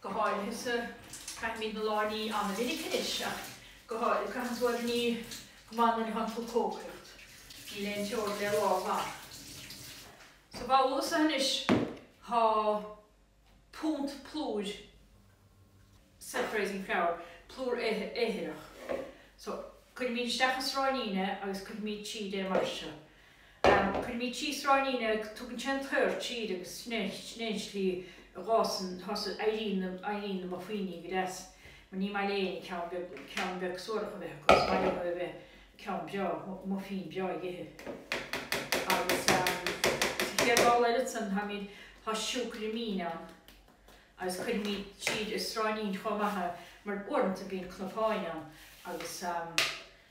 Go háirithe sa, caithimid na lámha a ní an-mhinic anois ach go háirithe, caitheann tú iad a ní go maith nuair a thánn tú ag cócaireacht. Níl aon teorainn le lámha glana. Sa bhabhla seo anois tá punt plúir, self-raising flour, plúr éiritheach. So, cuirimid isteach sa sráinín é agus cuirimid tríd é mar seo. Cuirimíd tríd sráinín agus tugann sé an t-aer tríd agus sin é sin é an slí a dh'fhásann thosaigh éiríonn éiríonn na muffíní go deas mar ní maith leo ceann beag ceann beag suarach a bheith acu is maith leo a bheith ceann breá muffín breá ag ithe agus sa chéad ball eile ansan táimíd tá siúcra mín ann agus cuirimíd tríd an sráinín chomh maith mar uaireanta bíonn cnapáin ann agus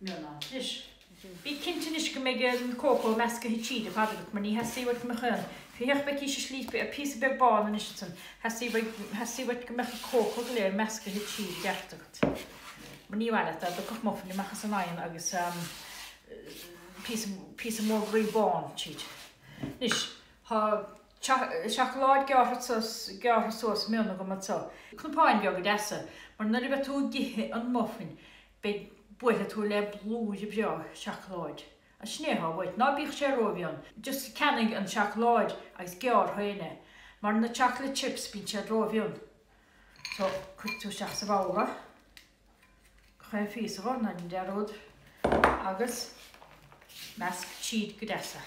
Mion ann. Anois. Bí cinnte anois go mbeidh an cócó meascaithe tríd ar fad agat, mar ní theastaíonn uait go mbeadh aon phiochadh feicís a slípe ar phíosa beag bán anso is ansan. Teastaíonn uait go mbeadh an cócó go léir meascaithe tríd i gceart agat. Mar ní mhaith leat dá dtiocfadh muffín amach as an oigheann agus píosa mór groí bán tríd. Anois, tá seacláid gearrtha suas mion agam anso. Cnapáin bheaga deasa, mar nuair a bheidh tú ag ithe an muffín, Beidh buailfidh tú le blúire breá seacláid. Is sin é atá uait, ná bíodh sé rómhion. Just ceannaigh an seacláid agus gearr tú féin é. Mar na chocolate chips, bíonn siad rómhion. So, cuirfidh tú isteach sa bhabhla. Gach aon phíosa, ná déan dearúd. Agus measc tríd go deas é.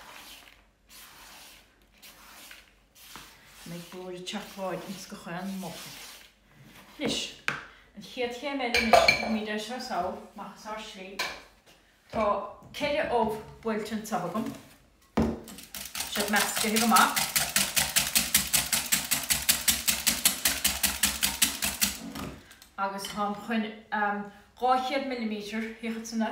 Go mbeidh blúire seacláid ins gach aon mhuffín. Anois, an chéad chéim eile anois, tógfaimíd é seo sall, amach as ár slí. Tá ceithre ubh buailte anso agam. Tá siad meascaithe go maith. Agus táim chun 200 millimetre, thiocfad san a?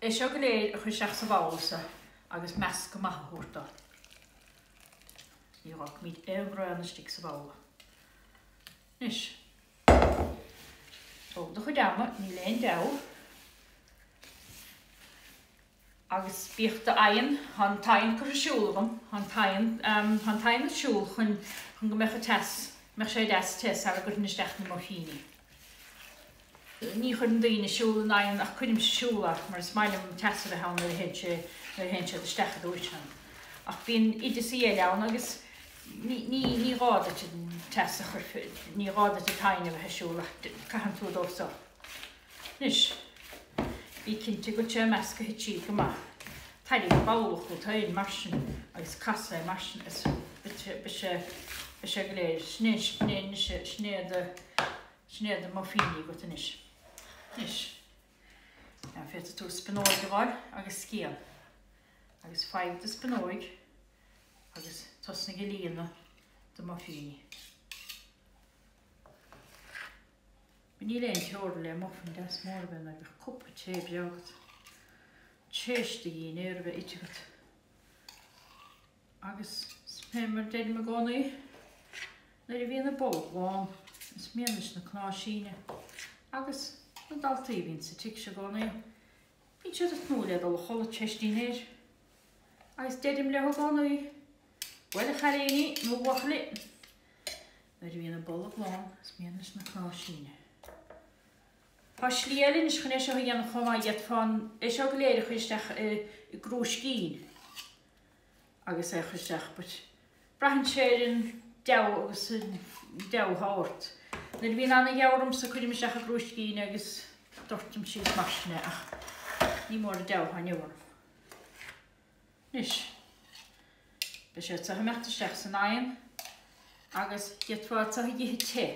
É seo go léir a chur isteach sa bhabhla-sa agus meascadh maith a thabhairt do. Ní fhágfaimid aon bhraon istigh sa bhabhla. Anois, tóg do chuid ama, níl aon deabhadh. Agus bíodh do oigheann, tá an t-oigheann curtha ar siúl agam, tá an t-oigheann, ehm, tá an t-oigheann ar siúl chun, chun go mbeadh a teas, mbeadh sé deas te sara gcuirfinn isteach na muffíní. Ní chuireann daoine ar siúl an oigheann ach cuirimse ar siúl é mar is maith liom an teas a bheith ann nuair a théann sé, nuair a théann siad isteach, a dúirt Seán. Ach bíonn oideasaí eile ann agus ní, ní, ní gá duit an teas a chur, ní gá duit an t-oigheann a bheith ar siúl ach caitheann tú dó so. Anois, bí cinnte go bhfuil sé meascaithe tríd go maith. Tairrig an babhla chughat féin mar sin agus cas é mar sin is beidh sé, beidh sé, beidh sé go léir. Sin é, sin é, anois sin é do. Sin é do muffíní agat anois. Anois, an bhféadfaidh tú spionóig a dh'fháil agus scian? Agus faigh do spionóig agus tosnaigh ag líonadh do muffíní. But níl aon teorainn le muffin deas mór a bheith nuair a bheadh cupa tae breá agat. Tar éis dinnéir a bheith ite agat. Agus fé mar a deirim i gcónaí, nuair a bhíonn an bolg lán, is mian leis na cnámha síneadh. Agus na daltaí a bhíonn sa tigh seo i gcónaí, bíonn siad ag tnúth le dul a chodladh, tar éis dinnéir. Agus deirim leo i gcónaí, Bhuel, a chailíní, nó a bhuachaillí, nuair a bhíonn an bolg lán, is mian leis na cnámha síneadh. Tá slí eile anois chun é seo a dhéanamh chomh maith, d'fhéadfá é seo go léir a chur isteach i gcrúiscín. agus é a chur isteach, but braitheann sé ar an deabhadh agus an deabhadh atá ort. Nuair a bhíonn ana-dheabhadh ormsa cuirim isteach i gcrúiscín agus doirtim síos mar sin é ach ní mór an deabhadh atá orm. Anois, beidh siad so ag imeacht isteach san oigheann agus d'fhéadfá iad so a dh'ithe te.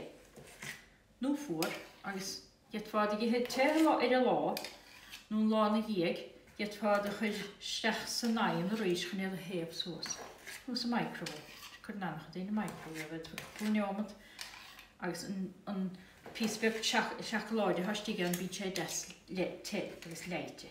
nó fuar, agus d'fhéadfá iad a dh'ithe te ar an lá, nó an lá 'na dhiaidh, d'fhéadfá iad a chur isteach san oigheann arís chun iad a théamh suas, nó sa microwave, cuireann ana-chuid daoine microwave iad, cúpla neomat, agus an píosa beag seacláide atá istigh ann, bíonn sé deas te agus leáite.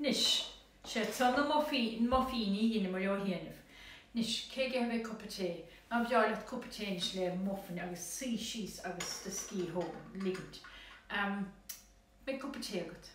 Anois, seo iad na muffíní a dheineamair ó chianaibh. Anois, cé aige a bheidh cupa tae? Nár bhreá leat cupa tae anois le muffin agus suí síos agus do scíth a ligint. Beidh cupa tae agat.